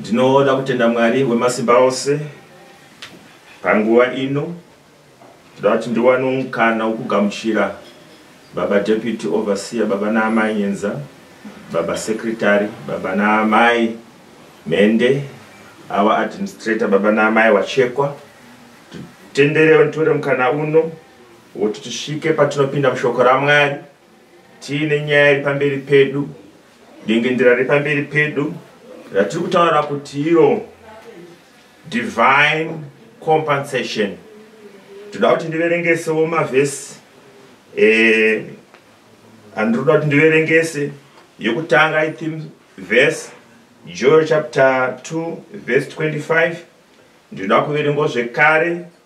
ndinoda kutenda mwari wemasimba ose panguva ino ndoda kuti ndiwane mukana wokugamuchira baba deputy overseer baba naamai nyenza baba secretary baba naamai mhende our administrator baba naamai wachekwa titenderewo nditore mukana uno wokuti tisvike patinopinda mushoko ramwari tiine nyaya iri pamberi pedu Dengendera repamberi pedu ratiri kutaura kuti iro divine compensation toda kuti ndiverengesewo mavhesi eh, andinoda kuti ndiverengese yekutanga ithim vhesi joel chapter 2 vhesi 25 ndinoda kuverengo zvekare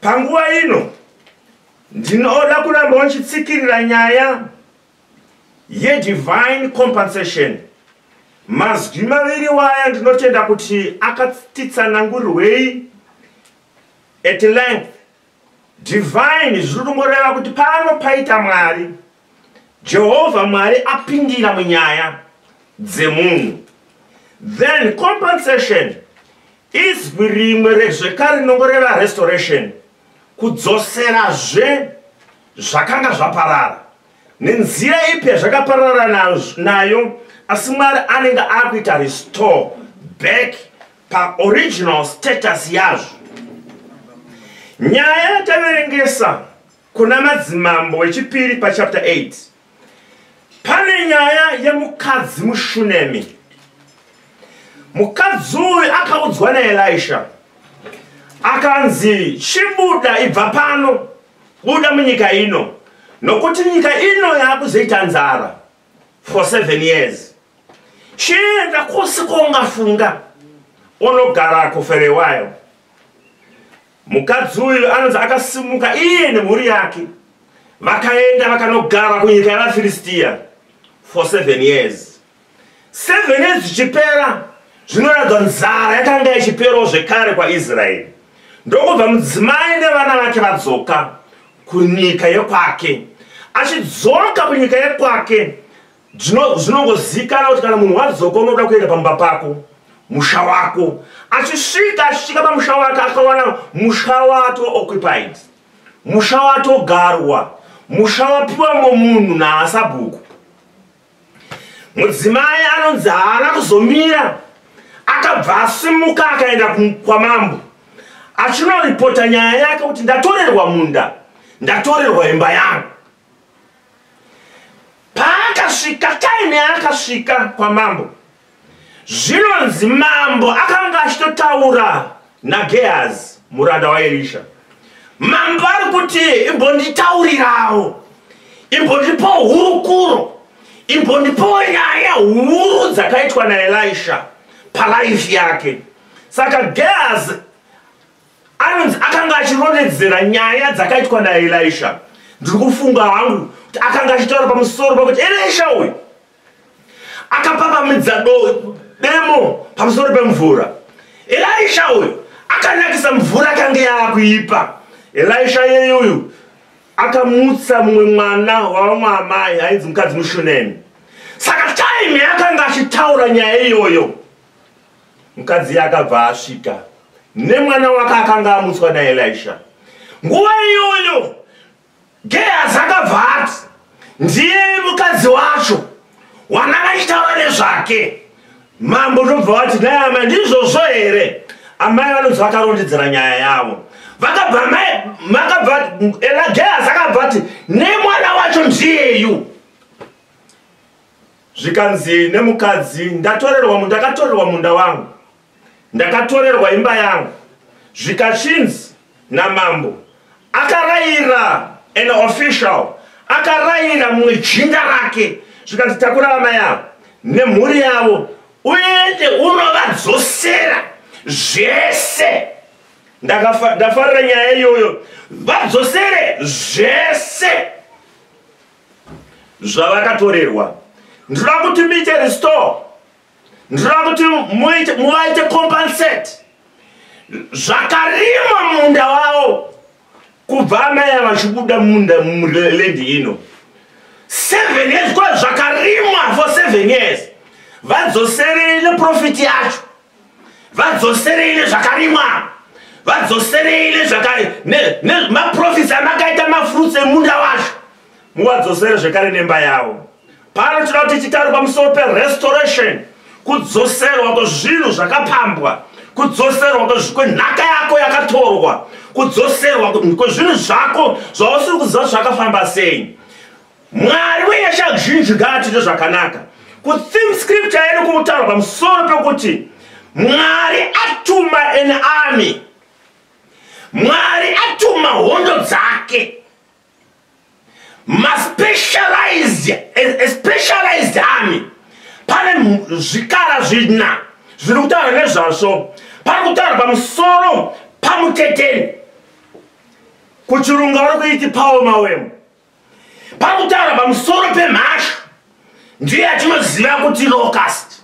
panguva ino ndinoda kuramba uchitsikirira nyaya yedivine compensation mazwi maviri waya ndinotenda kuti akatitsanangurirwei at length divine zviri kungoreva kuti pano paita mwari Jehovha Mwari apindira munyaya dzemunhu then compensation izwi rimwe rezvekare rinongo reva restoration kudzoserazve zvakanga zvaparara nenzira ipi yazvakaparara nayo asi mwari anenge akuita restore back paoriginal status yazvo nyaya yataverengesa Kuna Madzimambo wechipiri pachapter 8 pane nyaya yemukadzi muShunemi. Mukadzi uyu akaudzwa naElisha akanzi chibuda ibva pano buda munyika ino nokuti nyika ino yaakuzoita nzara for seven years chienda kwose kwaungafunga unogarako for a while Mukadzi uyu anonzi akasimuka iye nemhuri yake vakaenda vakanogara kunyika yavafiristiya for seven years seven years zvichipera zvinoratidza nzara yakanga yachiperawo zvekare kwaisraeri ndokubva mudzimai nevana vake vadzoka kunyika yekwake achidzoka kunyika yekwake zvinongozikana kuti kana munhu wadzoka unoda kuenda pamba pako musha wako achisvika achisvika pamusha wake akawana musha wato occupied musha watogarwa musha wapiwa momunhu naasabhuku mudzimai anonzi haana kuzomira akabva asimuka akaenda kwamambo achinoripota nyaya yake kuti ndatorerwa munda ndatorerwa imba yangu paakasvika kaini akasvika kwamambo zvinonzi mambo akanga achitotaura nagehazi muranda waerisha mambo ari kuti imbonditaurirawo imbondipo hurukuro imbondipo nyaya huru dzakaitwa naelisha palaifi yake saka gehazi anonzi akanga achirondedzera nyaya dzakaitwa naelisha ndiri kufunga hangu kuti akanga achitaura pamusoro pakuti elisha uyu akapapamidza demo pamusoro pemvura elisha uyu akanakisa mvura akange yaakuipa elisha yeye uyu akamutsa mumwe mwana wavamwe amai ainzi mukadzi mushunemi saka time yaakanga achitaura nyaya iyoyo mukadzi akabva asvika nemwana wake akanga amutswa naelisha nguva iyoyo gehazi akabva ati ndiye mukadzi wacho wana vachitaura nezvake mambo ndobva vati dai amai ndizvozvo here amai vanonzi vakarondedzera nyaya yavo vakabva amai makabva elagehazi akabva ati nemwana wacho ndiyeyu Zvikanzi nemukadzi, Ndatorerwa munda, ndakatorerwa munda wangu, ndakatorerwa imba yangu. Zvikachinzi namambo, akarayira an official, akarayira mumwe jinda rake, zvikanzi takura amai avo nemhuri yavo, uende unovadzosera zvese. Ndafarira nyaya iyoyo, vadzosere zvese. zvavakatorerwa ndinoda kuti muite restore ndinoda kuti muvaite compensate zvakarimwa munda wavo kubva anaya vachibuda munda mulendi ino seven years kwa zvakarimwa for seven years vadzoserei neprofiti yacho vadzoserei nezvakarimwa vadzoserei nezvemaprofits amakaita mafruits emunda wacho muvadzosere zvekare nemba yavo pano tinoda kuti tichitaura pamusoro perestoration kudzoserwa kwezvinhu zvakapambwa kudzoserwa kwenhaka yako yakatorwa kudzoserwa kwezvinhu zvako zvausiri kuziva zvakafamba sei Mwari wenyasha zhinji ngaatiite zvakanaka. Kutheme scripture yedu kutaura pamusoro pekuti Mwari atuma an army. Mwari atuma hondo dzake. Maspecialized, a, a specialized army. Pane zvikara zvina zviri kutaura nezvazvo. Pari kutaura pamusoro pamuteteni. Kuchirunga vari kuiti Paul Mawemo. pakutaura pamusoro pemhashu ndiye atinoziva kuti locust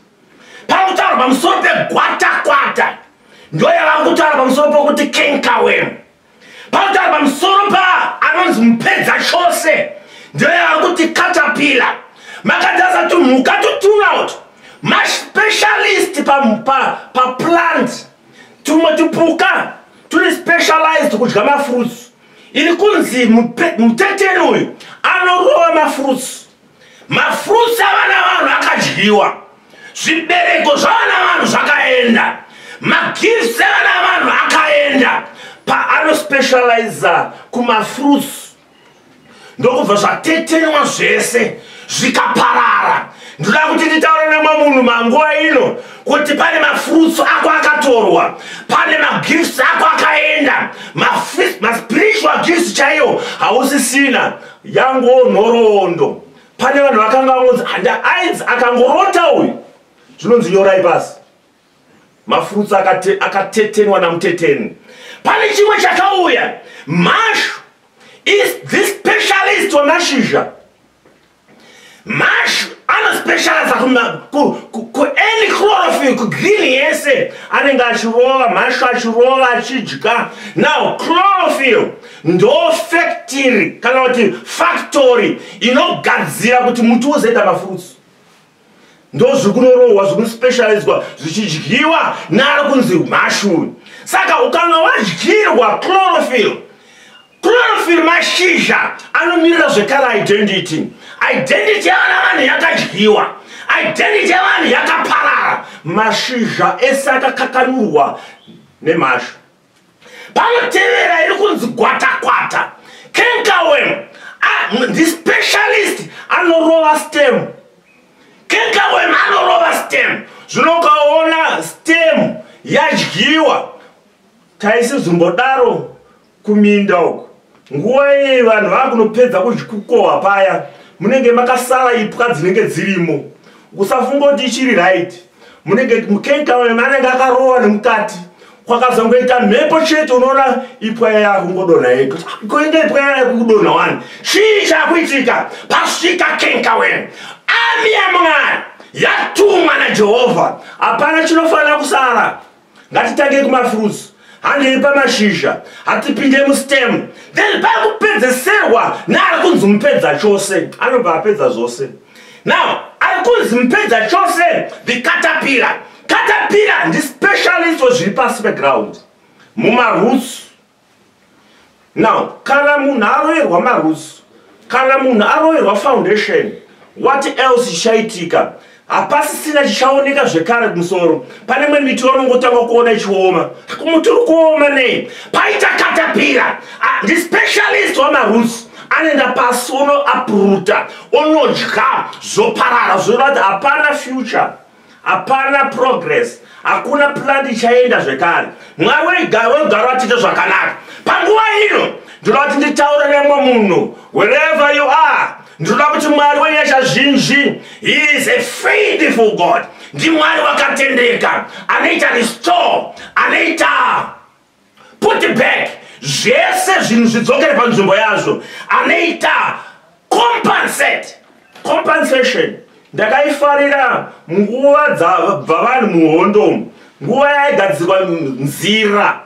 pakutaura pamusoro pegwatakwata ndiyo yavanga kutaura pamusoro pokuti kenkawem pakutaura pamusoro pa anonzi mupedza chose ndiyo yavanga kuti katapila makadzaza tumhuka tutunout maspecialist paplant pa, pa tumwe tupuka turi specialized kudya mafruits ini kunzi muteteri uyu anorova mafruits mafruits avana vanhu akadyiwa zvibereko zvavana vanhu zvakaenda magifts evana vanhu akaenda paanospecializa kumafruits ndokubva zvatetenwa zvese zvikaparara ndoda kuti nditaure nemwe munhu manguva ino kuti pane mafruits ako akatorwa pane magifts ako akaenda maspiritual gifts chaiyo hausisina yango nhoroondo pane vanhu vakanga vangonzi handaainzi akangoronda uyu zvinonzi nyorai pasi mafruits akate, akatetenwa namuteteni pane chimwe chakauya mashu is the specialist wemashizha mashu anospecializa kuany chlorophil kugreen yese anenge achirova mashu achirova achidya now chlorophil ndo factory kana kuti factory inogadzira kuti muti uzoita mafruits ndozviri kunorohwa zviri kuspecializwa zvichidyiwa naari kunzi mhashuyu saka ukanga wadyirwa chlorophil chlorophil mashizha anomirira zvekare identity identity yavana vanhu yakadyiwa identity yavanhu yakaparara mashizha ese akakakanurwa nemhashu panotevera iri kunzi gwatakwata kenkawem ndi specialist anorova stem kenkawem anorova stem zvino ukaona stem yadyiwa taisizombodaro kuminda uku nguva iyi vanhu vava kunopedza kukukohwa paya munenge makasara ipwa dzinenge dzirimo usafunga kuti ichiri right munenge mukekawe manenge akarowa nemukati kwakazongoita mhepo chete unoona ipwa yaya akungodonha yega kuinge ipwa yaya kukudonha wani chii chakuitika pasvika kenkawe ami yamwari yatumwa najehovha hapana chinofanira kusara ngatitange kumafruits handei pamashizha hatipinde mustem then pakupedzeserwa naari kunzi mupedza chose anobva apedza zvose now ari kunzi mupedza chose the catapira catapira ndispecialist wezviri pasi peground mumaroots now kana munhu aroyerwa marusi kana munhu aroyerwa foundation what else chichaitika hapasisina chichaoneka zvekare kumusoro pane mwe miti vanongotanga kuona ichioma kumuti uri kuoma nei paita katapira ah, ndispecialist wamarusi anoenda pasi unoapruta unodya zvoparara zvoda kuti hapana future hapana progress hakuna plan ichaenda zvekare mwari wegaro vatite zvakanaka panguva ino ndinoda kuti nditaure nemwe munhu wherever you are ndinoda kuti mwari wenyasha zhinji he is a faithful god ndimwari wakatendeka anoita restore anoita put back zvese zvinhu zvidzokere panzvimbo yazvo anoita compensate compensation ndakaifarira nguva dzabva vanhu muhondo nguva yaigadzirwa nzira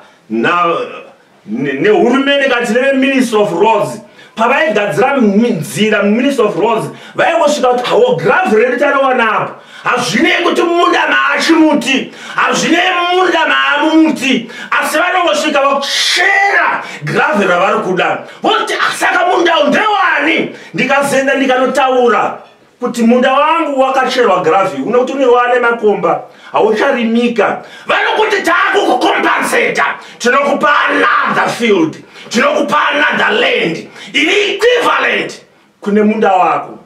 nehurumende kati neveministry of roads pavaigadzira nzira muminister of roads vaingosvika kuti hawo grav redu tariwanapo hazvinei kuti munda maachimuti hazvinei munda maamumuti asi vanongosvika vakuchera grav ravari kuda voti asaka ah, mundau ndewani ndikazoenda ndikanotaura kuti munda wangu wakacherwa gravi une kuti unova nemakomba haucharimika vanokuti taakukukompenseta tinokupa another field tinokupa another land iri equivalent kune munda wako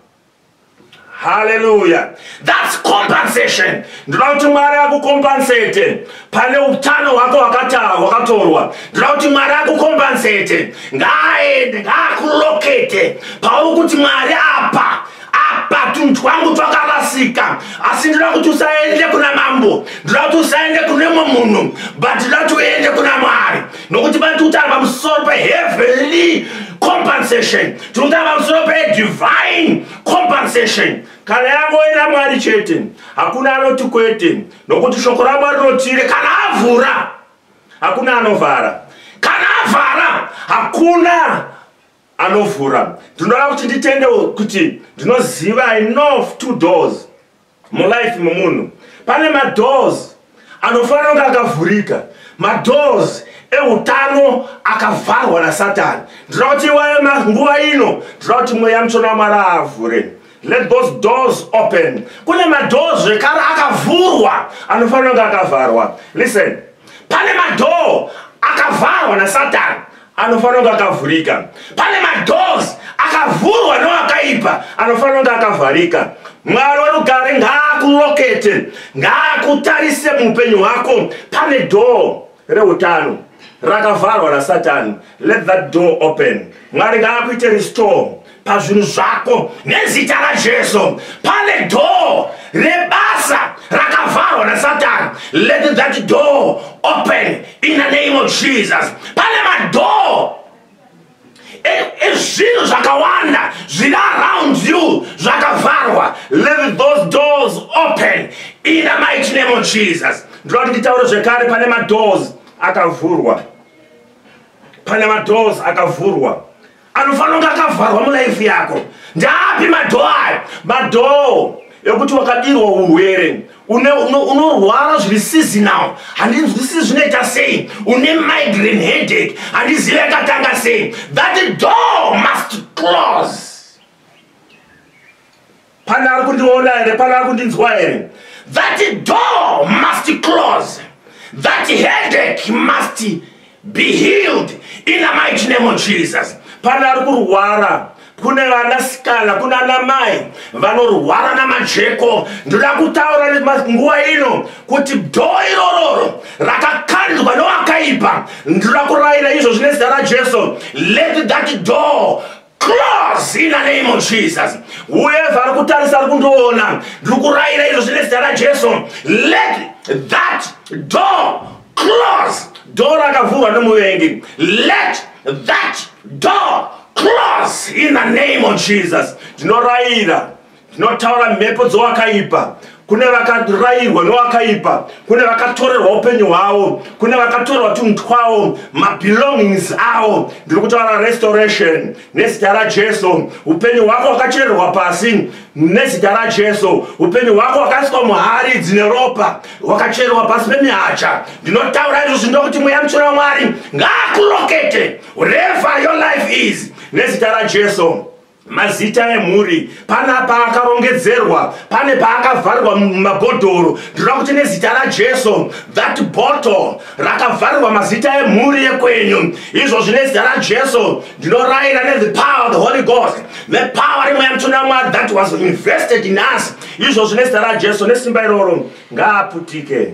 haleluya thats compensation ndinoda kuti mwari akukompensete pane utano hwako hwakatorwa ndira kuti mwari akukombansete ngaaende ngaakulokete pauri kuti mwari apa apa tunhu twangu twakarasika asi ndira kuti usaende kuna mambo ndira kuti usaende kune mwe munhu but ndira kuti uende kuna mwari nokuti vati utano pamusoro peheavenly compensation tiri kutaura pamusoro pedivine compensation kana yangoenda mwari chete hakuna anoti kwete nokuti shoko ramwari rotire kana avhura hakuna anovhara kana avhara hakuna anovhura ndinoda kuti nditende kuti ndinoziva enough two doors mulife memunhu pane madoors anofanira kunge akavhurika madoors eutano akavharwa nasatani ndinoda kuti iwaye manguva ino ndinoda kuti mweya mutsvona wamwari aavhure let those doors open kune madhoo zvekare akavhurwa anofanira kunge akavharwa listen pane madhoo akavharwa nasatani anofanira kunge akavhurika pane madoors akavhurwa noakaipa anofanira kunge akavharika mwari werugare ngaakulokete ngaakutarise muupenyu hwako pane door reutano rakavharwa nasatani let that door open mwari ngaakuite restore pazvinhu zvako nezita rajesu pane door rebasa rakavharwa nasatani let that door open in the name of jesus pane madoor ezvinhu e, zvakawanda zviri around you zvakavharwa let those doors open in the mighty name of jesus ndinoda kuti nditaure zvekare pane madoors akavhurwa pane madoors akavhurwa anofanonga akavharwa mulife yako ndaapi madhoo ayo madhoo ekuti wakadirwa urwere unorwara zviri seasonal handinzwisii zvinoita sei une migraine headache handizive yakatanga sei that door must close Pane ari kundiona here? Pane ari kundinzwa here? That door must close. That headache must be healed in the mighty name of Jesus. Pane ari kurwara kune vanasikana kuna namai vanorwara namajeko ndoda kutaura nguva ino kuti dhoo irororo rakakandwa nowakaipa ndoda kurayira izvo zvine zita rajesu let that door Close in the name of Jesus. Whoever ari kutarisa ari kundiona, ndiri kurayira izvo zvine zita raJesu. Let that door close. Door rakavhurwa nemuvengi. Let that door close in the name of Jesus. Ndinorayira Zvinotaura mhepo dzowakaipa kune vakarairwa nowakaipa kune vakatorerwa upenyu hwavo kune vakatorerwa tunhu twavo mabelongings avo ndiri kutaura restoration nezita rajesu upenyu hwako hwakachererwa pasi nezita rajesu upenyu hwako hwakaiswa muhari dzine ropa hwakachererwa pasi pemihacha ndinotaura izvozvi ndokuti mweya mutsvina wamwari ngaakurokete whatever your life is nezita rajesu mazita emhuri pana paakarongedzerwa pane paakavharirwa mumabhodhoro ndinoda kuti nezita rajesu that bottle rakavharirwa mazita emhuri yekwenyu izvozvi nezita rajesu ndinorayira nethe power of the holy ghost the power imwe yamtuna mwari that was invested in us izvozvi nezita rajesu nesimba iroro ngaaputike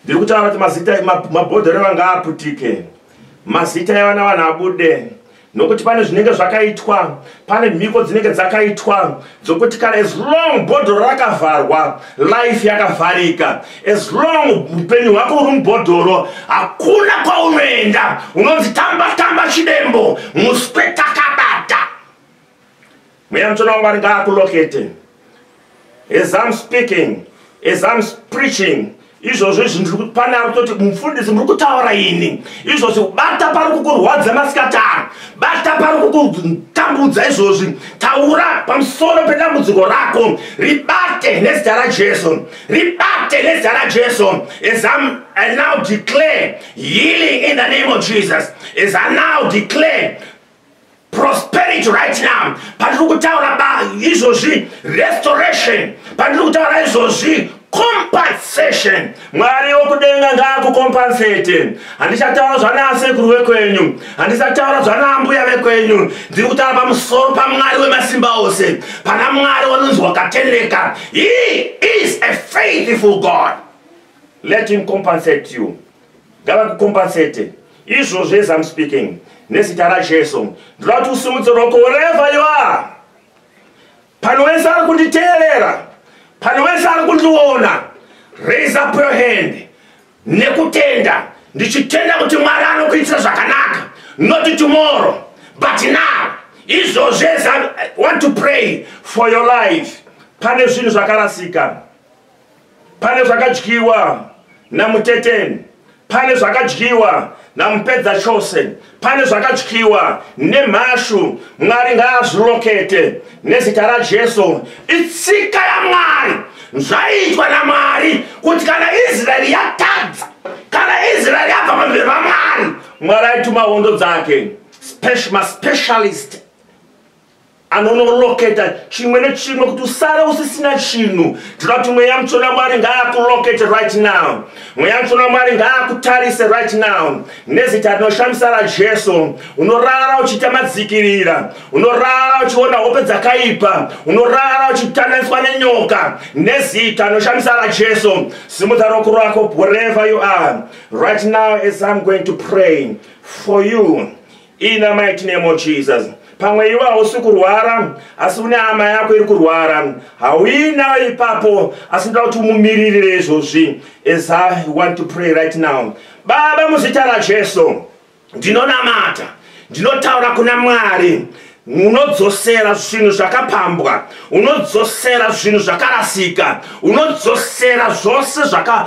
ndiri kutaura kuti mazita mabhodhoro ewa ngaaputike mazita evana vanhu abude nokuti pane zvinenge zvakaitwa pane mhiko dzinenge dzakaitwa dzokuti kana as long bhodhoro rakavharwa life yakavharika as long upenyu hwako uri mubhodhoro hakuna kwaunoenda unonzi tamba tamba chidembo muspetakabata Mweya mutsvene waMwari ngaakulokete. As I'm speaking, as I'm preaching, izvozvo izvi ndiri pane ari kutoti mufundisi muri kutaura ini izvozvi bata pari kukurwadza masikatano bata pari kukutambudza izvozvi taura pamusoro pedambudziko rako ribate nezita rajesu ribate nezita rajesu as am i now declare healing in the name of jesus as i now declare prosperity right now pandiri kutaura ba izvozvi restoration pandiri kutaura izvozvi compensation mwari wokudenga ngaakukompensate handichataura zvanasekuru vekwenyu handisataura zvanaambuya vekwenyu ndiri kutaura pamusoro pamwari wemasimba ose pana mwari wanonzi wakatendeka he is a faithful god let him compensate you ngavakukompensate izvozvo as am speaking nezita rajesu ndoda kuti usimudze roko wherever you are pane wese ari kunditeerera pane wese ari kundiona raise up your hand nekutenda ndichitenda kuti mwari anokuitira zvakanaka not tomorrow but now izvozvo as i want to pray for your life pane zvinhu zvakarasika pane zvakadyiwa namuteteni pane zvakadyiwa namupedza chose pane zvakadyiwa nemhashu mwari ngaazvirokete nezita rajesu itsika yamwari zvaitwa namwari kuti kana israeri yatadza kana israeri yabva pamberi pamwari mwari aituma hondo dzake maspecialist anonoloketa chimwe nechimwe kuti usare usisina chinhu tinoda kuti mweya mutsvene wamwari ngaakulokete right now mweya mutsvene wamwari ngaakutarise right now nezita rinoshamisa rajesu unorara uchiita madzikirira unorara uchiona hope dzakaipa unorara uchitananiswa nenyoka nezita rinoshamisa rajesu simudza roko rwako wherever you are right now as im going to pray for you in the mighty name of jesus pamwe iwe hausi kurwara asi une hama yako iri kurwara hauinayo ipapo asi ndoda kuti umumiririre izvozvi as i want to pray right now baba muzita rajesu ndinonamata ndinotaura kuna mwari unodzosera zvinhu zvakapambwa unodzosera zvinhu zvakarasika unodzosera zvose zvaka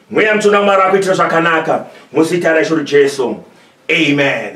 mweya mutsvene wamwari akuitira zvakanaka muzita raisho rijesu amen